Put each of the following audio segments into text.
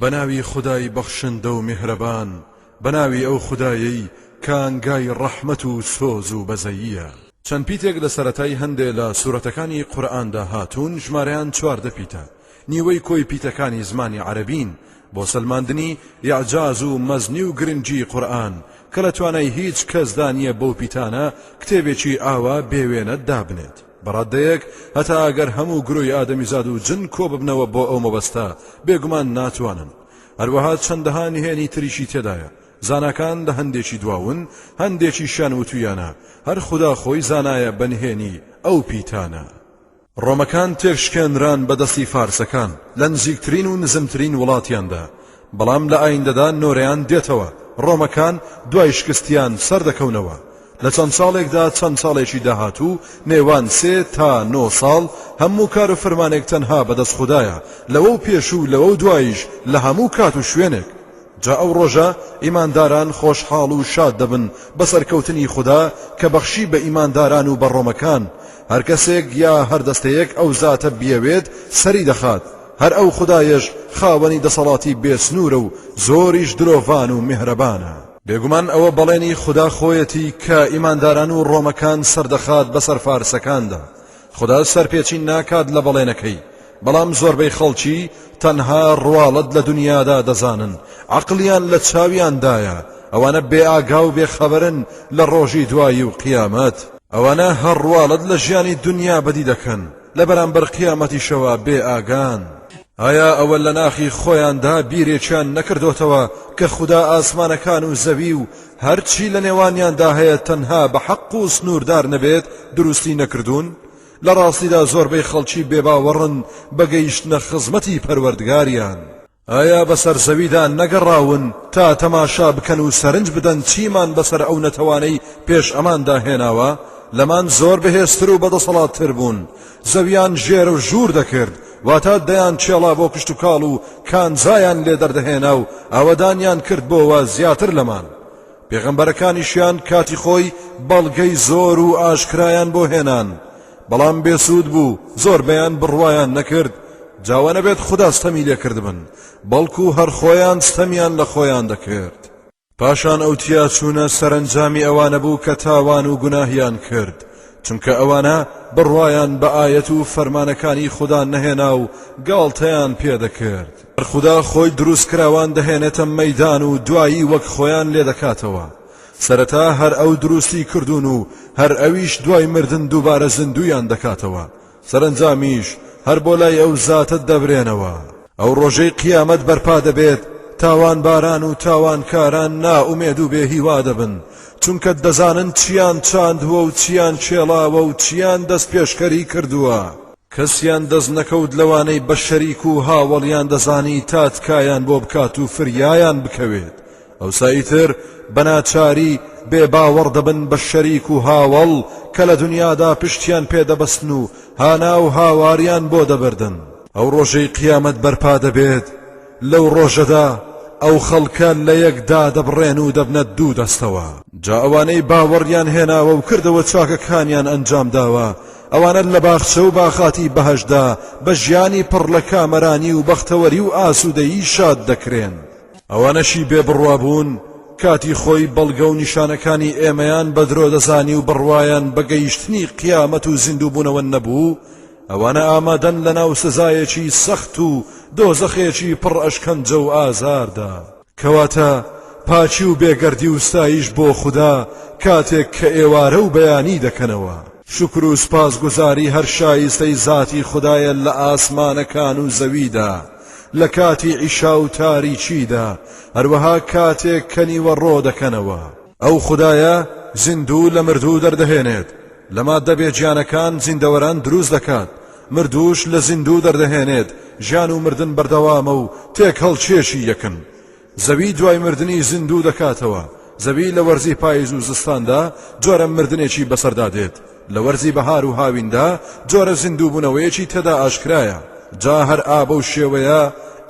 بەناوی خودای بەخشندە و میهرەبان بەناوی ئەو خودایەی کە ئانگای ڕەحمەت و سۆز و بەزەییە. چەند پیتێک لە سەرەتای هەندێ لە سورەتەکانی قورئاندا هاتوون ژمارەیان چواردە پیتە، نیوەی کۆی پیتەکانی زمانی عەرەبین، بۆ سەلماندنی ئیعجاز و مەزنی و گرنگی قورئان کە لە توانای هیچ کەسدا نیە بەو پیتانە کتێبێکی ئاوا بێ وێنە دابنێت. بە ڕادەیەک هەتا ئەگەر هەموو گروی ئادەمیزاد و جن کۆببنەوە بۆ ئەو مەبەستە بێگومان ناتوانن هەروەها چەندەها نهێنی تریشی تێدایە زاناکان لە هەندێکی دواون هەندێکی شان وتویانە هەر خدا خۆی زانایە بە نهێنی ئەو پیتانە ڕۆمەکان تێکشکێنران بە دەستی فارسەکان لە نزیکترین و نزمترین وڵاتیاندا بەڵام لە ئایندەدا نۆرەیان دێتەوە، ڕۆمەکان دوای شکستیان سەردەکەونەوە، لە چەند ساڵێکدا، چەند ساڵێکی داهاتوو، نێوان سێ تا نۆ ساڵ، هەموو کار و فرمانێک تەنها بە دەست خودایە، لەوەو پێش و لەوەو دواییش لە هەموو کات و شوێنێک. جا ئەو ڕۆژە ئیمانداران خۆشحاڵ و شاد دەبن بە سەرکەوتنی خودا کە بەخشی بە ئیمانداران و بە ڕۆمەکان، هەر کەسێک یا هەر دەستەیەک ئەو زاتە بیەوێت سەری دەخات، هەر ئەو خودایەش خاوەنی دەسەڵاتی بێ سنوورە و زۆریش درۆڤان و میهرەبانە. بێگومان ئەوە بەڵێنی خودا خۆیەتی کە ئیمانداران و ڕۆمەکان سەردەخات بەسەر فارسەکاندا. خودا سەرپێچی ناکات لە بەڵێنەکەی، بەڵام زۆربەی خەڵکی تەنها ڕواڵەت لە دونیادا دەزانن، عەقڵیان لە چاویاندایە، ئەوانە بێ ئاگا و بێ خەبەرن لە ڕۆژی دوایی و قیامەت. ئەوانە هەر ڕواڵەت لە ژیانی دونیا بەدی دەکەن. لە بەرامبەر قیامەتیشەوە بێ ئاگان. ئایا ئەوە لە ناخی خۆیاندا بیرێکیان نەکردۆتەوە کە خودا ئاسمانەکان و زەوی و هەرچی لە نێوانیاندا هەیە تەنها بە حەق و سنووردار نەبێت دروستی نەکردوون؟ لە ڕاستیدا زۆربەی خەڵکی بێباوەڕن بە گەیشتنە خزمەتی پەروەردگاریان. ئایا بەسەر زەویدا نەگەڕاون تا تەماشا بکەن و سەرنج بدەن چیمان بەسەر ئەو نەتەوانەی پێش ئەماندا هێناوە؟ لەمان زۆر بەهێزتر و بەدەسەڵاتتر بوون، زەویان ژێر و ژوور دەکرد، واتە دەیان چێڵا بۆ کشتوکاڵ و کانزایان لێ دەردەهێنا و ئاوەدانیان کرد بۆوە زیاتر لەمان. پێغەمبەرەکانیشیان کاتی خۆی بەڵگەی زۆر و ئاشکرایان بۆ هێنان، بەڵام بێ سوود بوو زۆربەیان بڕوایان نەکرد جا وا نەبێت خودا ستەمی لێ کردبن بەڵکو هەر خۆیان ستەمیان لە خۆیان دەکرد. پاشان ئەو تیاچوونە سەرەنجامی ئەوانە بوو کە تاوان و گوناهیان کرد چونکە ئەوانە بڕوایان بە ئایەت و فەرمانەکانی خودا نەهێنا و گاڵتەیان پێ دەکرد. هەر خودا خۆی دروستکراوان دەهێنێتە مەیدان و دوایی وەک خۆیان لێ دەکاتەوە. سەرەتا هەر ئەو دروستی کردوون و هەر ئەویش دوای مردن دووبارە زیندوویان دەکاتەوە، سەرەنجامیش هەر بۆ لای ئەو زاتە دەبرێنەوە. ئەو ڕۆژەی قیامەت بەرپا دەبێت، تاوانباران و تاوانکاران نائومێد و بێ هیوا دەبن، چونکە دەزانن چییان چاندووە و چییان کێڵاوە و چییان دەستپێشکەری کردووە. کەسیان دەست نەکەوت لەوانەی بە شەریک و هاوەڵیان دەزانی تا تکایان بۆ بکات و فریایان بکەوێت، ئەوسا ئیتر بە ناچاری بێ باوەڕ دەبن بە شەریک و هاوەڵ کە لە دنیادا پشتیان پێ دەبەستن و هانا و هاواریان بۆ دەبردن. ئەو ڕۆژەی قیامەت بەرپا دەبێت، لەو ڕۆژەدا ئەو خەڵکە لە یەک دادەبڕێن و دەبنە دوو دەستەوە. جا ئەوانەی باوەڕیان هێناوە و کردەوە چاکەکانیان ئەنجام داوە، ئەوانە لە باخچە و باخاتی بەهەشتدا بە ژیانی پڕ لە کامەرانی و بەختەوەری و ئاسوودەیی شاد دەکرێن. ئەوانەشی بێ بڕوابوون کاتی خۆی بەڵگە و نیشانەکانی ئێمەیان بە درۆ دەزانی و بڕوایان بە گەیشتنی قیامەت و زیندووبوونەوە نەبوو ئەوانە ئامادەن لە ناو سزایەکی سەخت و دۆزەخێکی پڕ ئەشکەنجە و ئازاردا کەواتە پاچی و بێگەردی و ستایش بۆ خودا کاتێک کە ئێوارە و بەیانی دەکەنەوە. شکر و سپاسگوزاری هەر شایستەی زاتی خودایە لە ئاسمانەکان و زەویدا. لە کاتی عیشا و تاریکیدا، هەروەها کاتێک کە نیوەڕۆ دەکەنەوە. ئەو خودایە زیندوو لە مردوو دەردەهێنێت، لە ماددە بێگیانەکان زیندەوەران دروست دەکات، مردووش لە زیندوو دەردەهێنێت، ژیان و مردن بەردەوامە و تێکهەڵچێکی یەکن. زەوی دوای مردنی زیندوو دەکاتەوە، زەوی لە وەرزی پایز و زستاندا جۆرە مردنێکی بەسەردا دێت، لە وەرزی بەهار و هاویندا جۆرە زیندووبوونەوەیەکی تێدا ئاشکرایە، جا هەر ئا بەو شێوەیە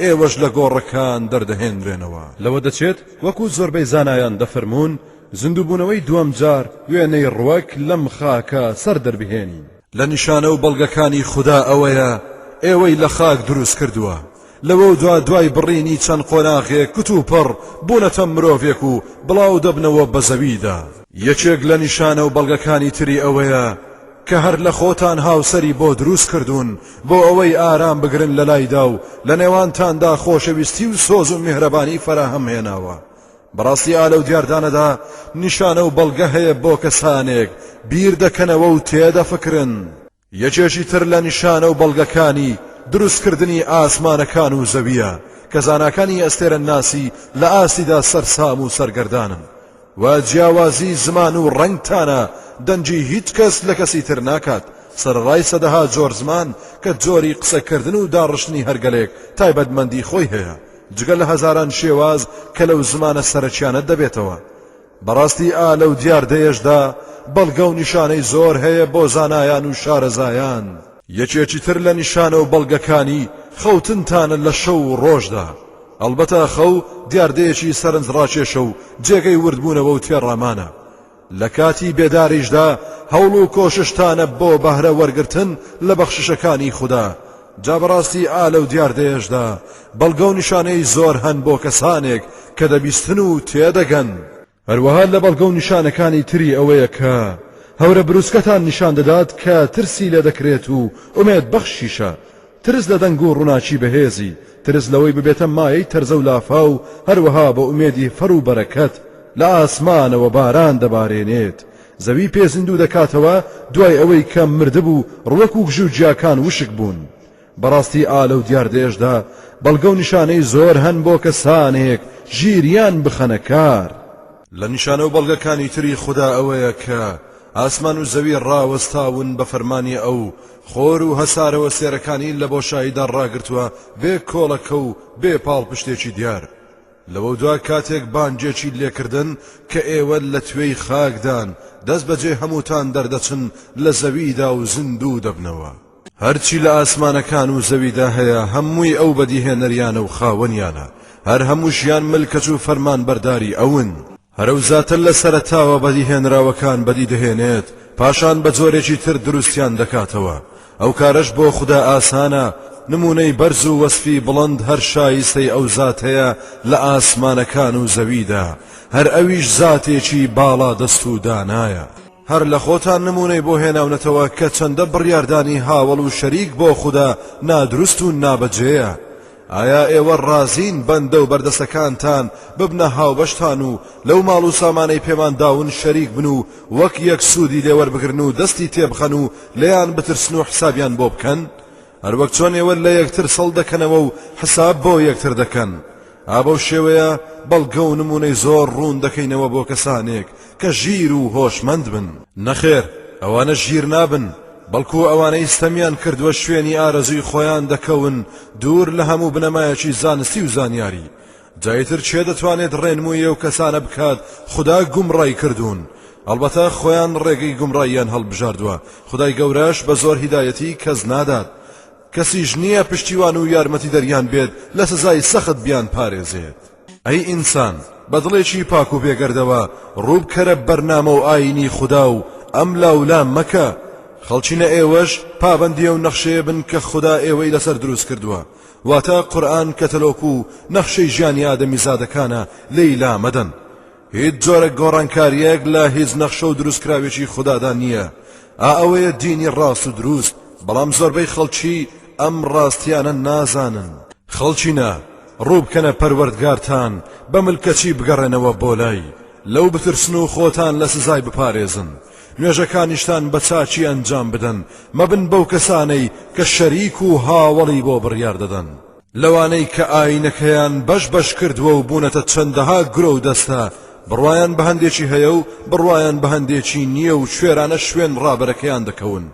ئێوەش لە گۆڕەکان دەردەهێنرێنەوە. لەوە دەچێت وەکو زۆربەی زانایان دەفەرموون زیندووبوونەوەی دووەم جار وێنەی ڕوەک لەم خاکە سەر دەربهێنین. لە نیشانە و بەڵگەکانی خودا ئەوەیە ئێوەی لە خاک دروست کردووە، لەوەو دوا دوای بڕینی چەند قۆناغێک کتوپڕ بوونەتە مرۆڤێک و بڵاو دەبنەوە بە زەویدا. یەکێک لە نیشانە و بەڵگەکانی تری ئەوەیە کە هەر لە خۆتان هاوسەری بۆ دروست کردوون بۆ ئەوەی ئارام بگرن لەلایدا و لە نێوانتاندا خۆشەویستی و سۆز و میهرەبانی فەراهەم هێناوە، بەڕاستی ئا لەو دیاردانەدا نیشانە و بەڵگە هەیە بۆ کەسانێک بیر دەکەنەوە و تێدەفکرن. یەکێکی تر لە نیشانە و بەڵگەکانی دروستکردنی ئاسمانەکان و زەوییە کە زاناکانی ئەستێرەنناسی لە ئاستیدا سەرسام و سەرگەردانن و جیاوازی زمان و ڕەنگ تانە دەنگی هیچ کەس لە کەسی تر ناکات سەرەڕای سەدەها جۆر زمان کە جۆری قسەکردن و داڕشتنی هەرگەلێک تایبەتمەندی خۆی هەیە جگە لە هەزاران شێواز کە لەو زمانە سەرەکیانە دەبێتەوە. بەڕاستی ئا لەو دیاردەیەشدا بەڵگە و نیشانەی زۆر هەیە بۆ زانایان و شارەزایان. یەکێکی تر لە نیشانە و بەڵگەکانی، خەوتنتانە لە شەو و ڕۆژدا. ئەڵبەتە خەو دیاردەیەکی سەرنجڕاکێشە و جێگەی وردبوونەوە و تێڕامانە. لە کاتی بێداریشدا هەوڵ و کۆششتانە بۆ بەهرە وەرگرتن لە بەخششەکانی خودا، جا بەڕاستی ئا لەو دیاردەیەشدا بەڵگە و نیشانەی زۆر هەن بۆ کەسانێک کە دەبیستن و تێدەگەن. هەروەها لە بەڵگە و نیشانەکانی تری ئەوەیە کە هەورە بروسکەتان نیشان دەدات کە ترسی لێ دەکرێت و ئومێدبەخشیشە، ترس لە دەنگ و ڕوناکی بەهێزی، ترس لەوەی ببێتە مایەی تەرزە و لافاو، هەروەها بە ئومێدی فەڕ و بەرەکەت، لە ئاسمانەوە باران دەبارێنێت، زەوی پێ زیندوو دەکاتەوە دوای ئەوەی کە مردبوو، ڕوەک و گژو گیاکان وشک بوون. بەڕاستی ئا لەو دیاردەیەشدا بەڵگە و نیشانەی زۆر هەن بۆ کە سانێک ژیریان بخەنە کار. لە نیشانە و بەڵگەکانی تری خودا ئەوەیە کە ئاسمان و زەوی ڕاوەستاون بە فەرمانی ئەو، خۆر و هەسارەوە سێرەکانی لە بۆشاییدا ڕاگرتووە بێ کۆڵەکە و بێ پاڵپشتێکی دیار. لەوە دوا کاتێک بانگێکی لێکردن کە ئێوە لە توێی خاکدان، دەستبەجێ هەمووتان دەردەچن لە زەویدا و زیندوو دەبنەوە. هەرچی لە ئاسمانەکان و زەویدا هەیە هەمووی ئەو بەدیهێنەریانە و خاوەنیانە، هەر هەمووشیان ملکەچ و فەرمانبەرداری ئەون. هەر ئەو زاتە لە سەرەتاوە بەدیهێنراوەکان بەدی دەهێنێت، پاشان بە جۆرێکی تر دروستیان دەکاتەوە، ئەو کارەش بۆ خودا ئاسانە، نموونەی بەرز و وەسفی بڵند هەر شایستەی ئەو زاتەیە لە ئاسمانەکان و زەویدا، هەر ئەویش زاتێکی باڵادەست و دانایە. هەر لە خۆتان نموونەی بۆ هێناونەتەوە کە چەندە بڕیاردانی هاوەڵ و شەریک بۆ خودا نادروست و نابەجێیە، ئایا ئێوە ڕازین بەندە و بەردەستەکانتان ببنە هاوبەشتان و لەو ماڵ و سامانەی پێمان داون شەریک بن و وەک یەک سوودی لێوەربگرن و دەستی تێبخەن و لێیان بترسن و حسابیان بۆ بکەن؟ هەروەک چۆن ئێوە لە یەکتر سڵ دەکەنەوە و حساب بۆ یەکتر دەکەن، ئا بەو شێوەیە بەڵگە و نموونەی زۆر ڕوون دەکەینەوە بۆ کەسانێک کە ژیر و هۆشمەند بن. نەخێر، ئەوانە ژیر نابن، بەڵکو ئەوانەی ستەمیان کردووە شوێنی ئارەزووی خۆیان دەکەون دوور لە هەموو بنەمایەکی زانستی و زانیاری، جا ئیتر کێ دەتوانێت ڕێنمووی ئەو کەسانە بکات خودا گومڕای کردوون هەڵبەتە خۆیان ڕێگەی گومڕاییان هەڵبژاردووە خودای گەورەش بە زۆر هیدایەتی کەس نادات کەسیش نییە پشتیوان و یارمەتیدەریان بێت لە سزای سەخت بیان پارێزێت ئەی ئینسان بە دڵێکی پاک و بێگەردەوە ڕووبکەرە بەرنامە و ئاینی خودا و ئەم لاولا مەکە خەڵچینە ئێوەش پابەندی ئەو نەخشەیە بن کە خودا ئێوەی لەسەر دروست کردووە واتە قورئان کەتەلۆک و نەخشەی ژیانی ئادەمیزادەکانە لێی لا مەدەن هیچ جۆرە گۆڕانکاریەک لە هیچ نەخشە و دروستکراوێکی خودادا نییە ئا ئەوەیە دینی ڕاست و دروست بەڵام زۆربەی خەڵکی ئەم ڕاستیانە نازانن خەڵکینە ڕووبکەنە پەروەردگارتان بە ملکەچی بگەڕێنەوە بۆ لای لەو بترسن و خۆتان لە سزای بپارێزن نوێژەکانیشتان بە چاکی ئەنجام بدەن، مەبن بەو کەسانەی کە شەریک و هاوەڵی بۆ بڕیار دەدەن. لەوانەی کە ئایینەکەیان بەش بەش کردووە و بوونەتە چەندەها گرۆ و دەستە، بڕوایان بە هەندێکی هەیە و بڕوایان بە هەندێکی نییە و کوێرانە شوێن ڕابەرەکەیان دەکەون،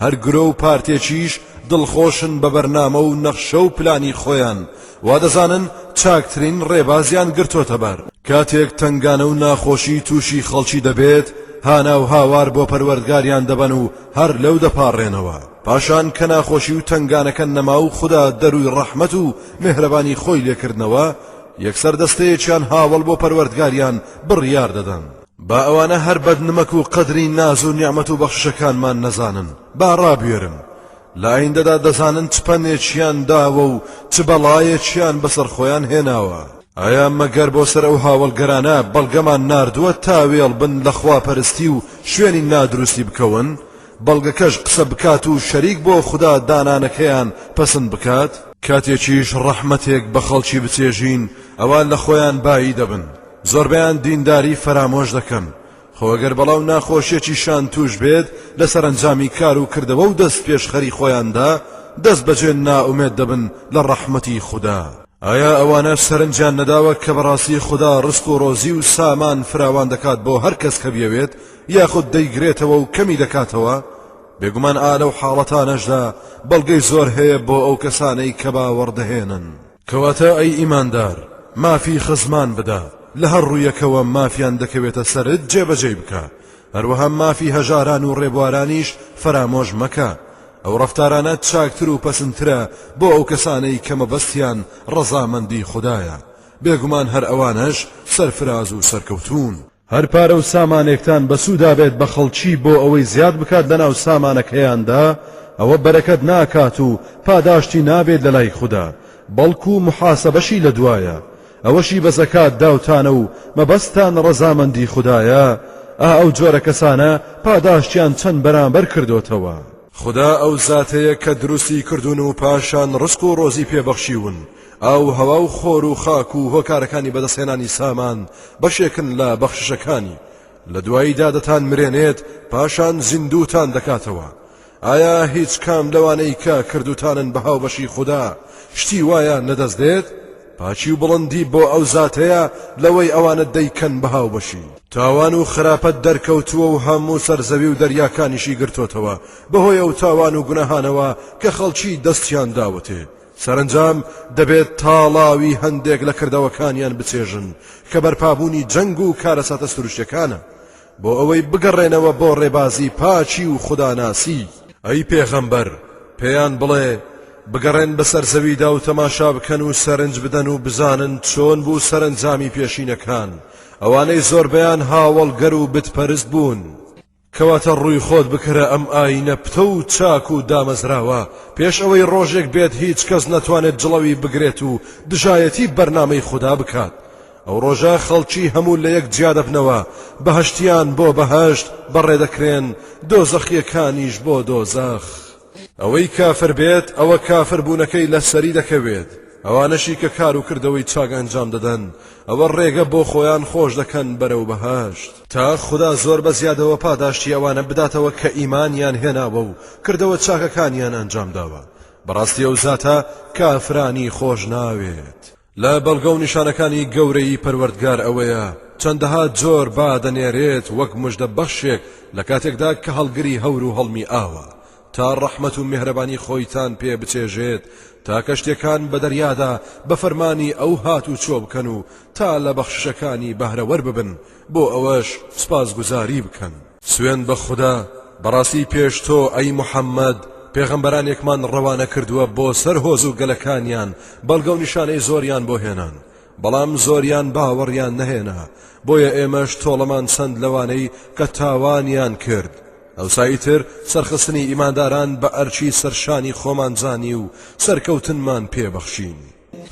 هەر گرۆ و پارتێکیش دڵخۆشن بە بەرنامە و نەخشە و پلانی خۆیان، وا دەزانن چاکترین ڕێبازیان گرتۆتە بەر. کاتێک تەنگانە و ناخۆشی تووشی خەڵکی دەبێت، هانا و هاوار بۆ پەروەردگاریان دەبەن و هەر لەو دەپاڕێنەوە. پاشان کە ناخۆشی و تەنگانەکە نەما و خودا دەرووی ڕەحمەت و مێهرەبانی خۆی لێ کردنەوە، یەکسەر دەستەیەکیان هاوەڵ بۆ پەروەردگاریان بڕیار دەدەن. با ئەوانە هەر بەد نمەک و قەدری ناز و نیعمەت و بەخششەکانمان نەزانن، با ڕابوێرن، لە ئایندەدا دەزانن چ پەنێکیان داوە و چ بەڵایەکیان بەسەر خۆیان هێناوە. ئایا مەگەر بۆ سەر ئەو هاوەڵگەرانە بەڵگەمان ناردووە تا وێڵ بن لە خواپەرستی و شوێنی نادروستی بکەون، بەڵگەکەش قسە بکات و شەریک بۆ خودا دانانەکەیان پەسند بکات؟ کاتێکیش ڕەحمەتێک بە خەڵکی بچێژین، ئەوا لە خۆیان بایی دەبن، زۆربەیان دینداری فەرامۆش دەکەن خۆ ئەگەر بەڵا و ناخۆشیەکی شان توش بێت لە سەرەنجامی کار و کردەوە و دەست پێشخەری خۆیاندا دەست بەجێ نائومێد دەبن لە ڕەحمەتی خودا. ئایا ئەوانەش سەرنجیان نەداوە کە بەڕاستی خودا ڕزق و ڕۆزی و سامان فراوان دەکات بۆ هەر کەس کە بیەوێت یاخود دەیگرێتەوە و کەمی دەکاتەوە؟ بێگومان ئا لەو حاڵەتانەشدا بەڵگەی زۆر هەیە بۆ ئەو کەسانەی کە باوەڕ دەهێنن. کەواتە ئەی ئیماندار مافی خزمان بدە، لە هەر ڕوویەکەوە مافیان دەکەوێتە سەرت جێبەجێی بکە، هەروەها مافی هەژاران و ڕێبوارانیش فەرامۆش مەکە، ئەو ڕەفتارانە چاکتر و پەسندترە بۆ ئەو کەسانەی کە مەبەستیان ڕەزامەندی خودایە، بێگومان هەر ئەوانەش سەرفراز و سەرکەوتوون. هەر پارە و سامانێکتان بەسوودا بێت بە خەڵکی بۆ ئەوەی زیاد بکات لەناو سامانەکەیاندا ئەوە بەرەکەت ناکات و پاداشتی نابێت لەلای خودا بەڵکو محاسەبەشی لەدوایە ئەوەشی بە زەکات داوتانە و مەبەستتان ڕەزامەندی خودایە ئا ئەو جۆرە کەسانە پاداشتیان چەند بەرامبەر کردۆتەوە. خودا ئەو زاتەیە کە دروستی کردوون و پاشان ڕزق و ڕۆزی پێ بەخشیون ئاووهەوا و خۆر و خاک و هۆکارەکانی بەدەستهێنانی سامان بەشێکن لە بەخششەکانی، لە دواییدا دەتانمرێنێت پاشان زیندووتان دەکاتەوە، ئایا هیچ کام لەوانەی کە کردووتانن بە هاوبەشی خودا شتی وایان لەدەست دێت؟ پاکی و بڵندی بۆ ئەو زاتەیە لەوەی ئەوانت دەیکەن بە هاوبەشی. تاوان و خراپەت دەرکەوتووە و هەموو سەر زەوی و دەریاکانیشی گرتۆتەوە، بەهۆی ئەو تاوان و گوناهانەوە کە خەڵکی دەستیان داوەتێ، سەرەنجام دەبێت تاڵاوی هەندێک لە کردەوەکانیان بچێژن کە بەرپابوونی جەنگ و کارەساتە سروشتیەکانە بۆ ئەوەی بگەڕێنەوە بۆ ڕێبازی پاکی و خوداناسی. ئەی پێغەمبەر، پێیان بڵێ، بگەڕێن بەسەر زەویدا و تەماشا بکەن و سەرنج بدەن و بزانن چۆن بوو سەرەنجامی پێشینەکان، ئەوانەی زۆربەیان هاوەڵگەر و بتپەرست بوون. کەواتە ڕووی خۆت بکەرە ئەم ئاینە پتەو و چاک و دامەزراوە پێش ئەوەی ڕۆژێک بێت هیچ کەس نەتوانێت جڵەوی بگرێت و دژایەتی بەرنامەی خودا بکات ئەو ڕۆژە خەڵکی هەموو لە یەک جیا دەبنەوە بەهەشتیان بۆ بەهەشت بەڕێدەکرێن دۆزەخیەکانیش بۆ دۆزەخ ئەوەی کافر بێت ئەوە کافر بوونەکەی لە سەری دەکەوێت، ئەوانەشی کە کار و کردەوەی چاک ئەنجام دەدەن ئەوە ڕێگە بۆ خۆیان خۆش دەکەن بەرەو بەهەشت، تا خودا زۆر بە زیادەوە پاداشتی ئەوانە بداتەوە کە ئیمانیان هێناوە و کردەوە چاکەکانیان ئەنجام داوە، بەڕاستی ئەو زاتە کافرانی خۆش ناوێت. لە بەڵگە و نیشانەکانی گەورەیی پەروەردگار ئەوەیە چەندەها جۆر با دەنێرێت وەک مژدە بەخشێک لە کاتێکدا کە هەڵگری هەور و هەڵمی ئاوە تا ڕەحمەت و مێهرەبانی خۆیتان پێ بچێژێت تا کەشتێکان بە دەریادا بە فەرمانی ئەو هات و چۆ بکەن و تا لە بەخششەکانی بەهرەوەر ببن بۆ ئەوەش سپاسگوزاری بکەن. سوێند بە خودا، بەڕاستی پێش تۆ ئەی محەممەد، پێغەمبەرانێکمان ڕەوانە کردووە بۆ سەر هۆز و گەلەکانیان، بەڵگە و نیشانەی زۆریان بۆ هێنان، بەڵام زۆریان باوەڕیان نەهێنا، بۆیە ئێمەش تۆڵەمان چەند لەوانەی کە تاوانیان کرد. ئەوسا ئیتر سەرخستنی ئیمانداران بە ئەرکی سەرشانی خۆمان زانی و سەرکەوتنمان پێ بەخشین.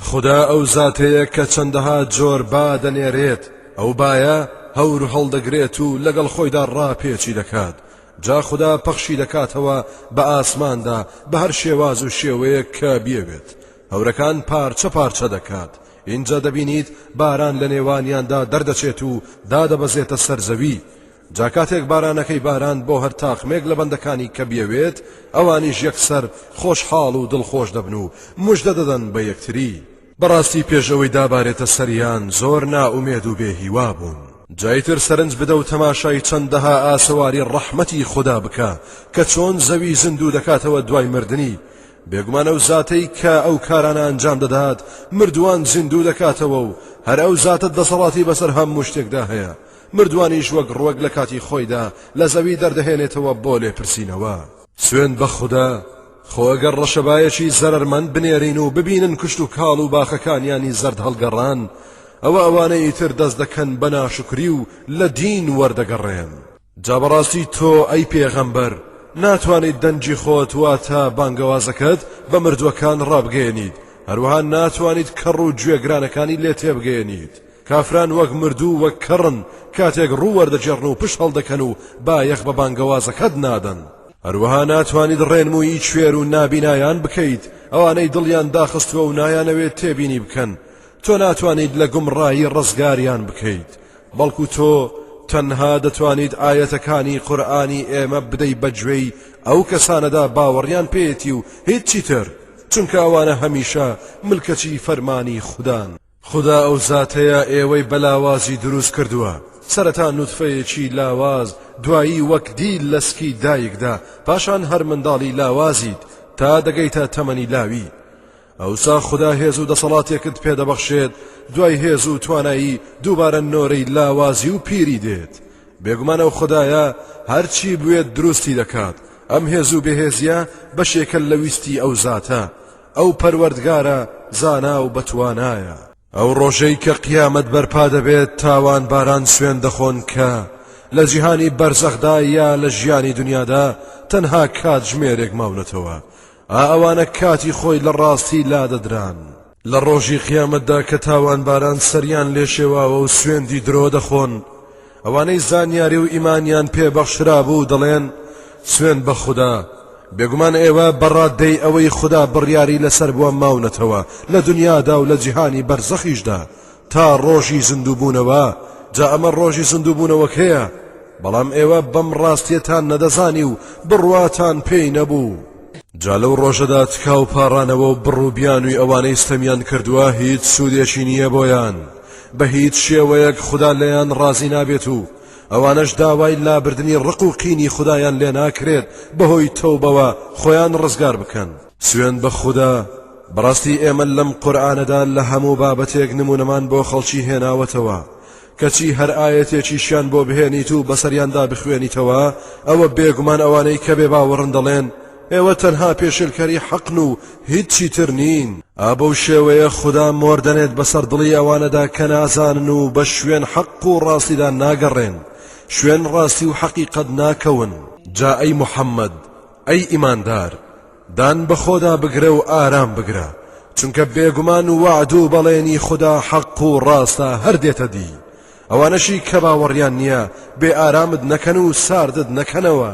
خودا ئەو زاتەیە کە چەندەها جۆر با دەنێرێت ئەو بایە هەور هەڵدەگرێت و لەگەڵ خۆیدا ڕاپێچی دەکات جا خوددا پەخشی دەکاتەوە بە ئاسماندا بە هەر شێواز و شێوەیە کە بێوێت هەورەکان پارچە پارچە دەکات اینجا دەبینیت باران لە نێوانیاندا دەردەچێت و دادەبەزێتە سەرزەوی جا کاتێک بارانەکەی باراند بۆ هەر تاقمێک لە بەندەکانی کە بیەوێت، ئەوانیش یەکسەر خۆشحاڵ و دڵخۆش دەبن و مژدە دەدەن بە یەکتری. بەڕاستی پێش ئەوەی دابارێتە سەریان زۆر نائومێد و بێ هیوا بوون. جا ئیتر سەرنج بدە و تەماشای چەندەها ئاسەواری ڕەحمەتی خودا بکە کە چۆن زەوی زیندوو دەکاتەوە دوای مردنی، بێگومان ئەو زاتەی کە ئەو کارانە ئەنجام دەدات مردووان زیندوو دەکاتەوە و هەر ئەو زاتە دەسەڵاتی بەسەر هەموو شتێکدا هەیە، مردووانیش وەک ڕوەک لە کاتی خۆیدا لە زەوی دەردەهێنێتەوە بۆ لێپرسینەوە. سوێند بە خودا، خۆ گەر ڕەشەبایەکی زەرەرمەند بنێرین و ببینن کشتوکاڵ و باخەکانیانی زەرد هەڵگەڕان، ئەوە ئەوانەی تر دەست دەکەن بە ناشوکری و لە دین وەردەگەڕێن. جا بەڕاستی تۆ ئەی پێغەمبەر ناتوانیت دەنگی خۆت واتە بانگەوازەکەت بە مردووەکان ڕابگەیەنیت، هەروەها ناتوانیت کەڕ و گوێگرانەکانی لێ تێبگەیەنیت، کافران وەک مردوو و وەک کەڕن کاتێک ڕوو وەردەگێڕن و پشت هەڵدەکەن و بایەخ بە بانگەوازەکەت نادەن. هەروەها ناتوانیت ڕێنموویی کوێر و نابینایان بکەیت، ئەوانەی دڵیان داخستووە و نایانەوێت تێبینی بکەن، تۆ ناتوانیت لە گومڕایی ڕزگاریان بکەیت، بەڵکو تۆ تەنها دەتوانیت ئایەتەکانی قورئانی ئێمە بدەی بە گوێی ئەو کەسانەدا باوەڕیان پێیەتی و هیچی تر، چونکە ئەوانە هەمیشە ملکەچی فەرمانی خودان. خودا ئەو زاتەیە ئێوەی بە لاوازی دروست کردووە سەرەتا نوتفەیەکی لاواز دوایی وەک دیل لە سکی دایکدا پاشان هەر منداڵی لاوازیت تا دەگەیتە تەمەنی لاوی ئەوسا خدا هێز و دەسەڵاتێکت پێدەبەخشێت دوای هێز و توانایی دووبارە نۆرەی لاوازی و پیری دێت بێگومانە و خدایە هەرچی بوێت دروستی دەکات ئەم هێز و بەهێزیە بەشێکە لە ویستی ئەو زاتە ئەو پەروەردگارە زانا و بەتوانایە. ئەو ڕۆژەی کە قیامەت بەرپا دەبێت تاوانباران سوێن دەخۆن کە لە جیهانی بەرزەخدا یا لە ژیانی دونیادا تەنها کاتژمێرێک ماونەتەوە، ئا ئەوانە کاتی خۆی لە ڕاستی لادەدران. لە ڕۆژی قیامەتدا کە تاوانباران سەریان لێشێواوە و سوێندی درۆ دەخۆن، ئەوانەی زانیاری و ئیمانیان پێ بەخشرابوو دەڵێن، سوێند بە خودا، بێگومان ئێوە بە ڕاددەی ئەوەی خودا بڕیاری لەسەر بووە ماونەتەوە لە دونیادا و لە جیهانی بەرزەخیشدا تا ڕۆژی زیندووبوونەوە، جا ئەمە ڕۆژی زیندووبوونەوەکەیە، بەڵام ئێوە بەم ڕاستیەتان نەدەزانی و بڕواتان پێی نەبوو. جا لەو ڕۆژەدا تکا و پاڕانەوە و بڕ و بیانووی ئەوانەی ستەمیان کردووە هیچ سوودێکی نییە بۆیان، بە هیچ شێوەیەک خودا لێیان ڕازی نابێت و ئەوانەش داوای لابردنی ڕق و قینی خودایان لێ ناکرێت بەهۆی تەوبەوە خۆیان ڕزگار بکەن. سوێند بە خودا، بەڕاستی ئێمە لەم قورئانەدا لە هەموو بابەتێک نموونەمان بۆ خەڵکی هێناوەتەوە، کەچی هەر ئایەتێکیشیان بۆ بهێنیت و بەسەریاندا بخوێنیتەوە، ئەوە بێگومان ئەوانەی کە بێباوەڕن دەڵێن، ئێوە تەنها پێشێلکەری حەقن و هیچی تر نین. ئا بەو شێوەیە خودا مۆر دەنێت بەسەر دڵی ئەوانەدا کە نازانن و بە شوێن حەق و ڕاستیدا ناگەڕێن، شوێن ڕاستی و حەقیقەت ناکەون. جا ئەی محەممەد، ئەی ئیماندار، دان بە خۆدا بگرە و ئارام بگرە، چونکە بێگومان وەعد و بەڵێنی خودا حەق و ڕاستە هەر دێتە دی، ئەوانەشی کە باوەڕیان نییە بێ ئارامت نەکەن و ساردت نەکەنەوە.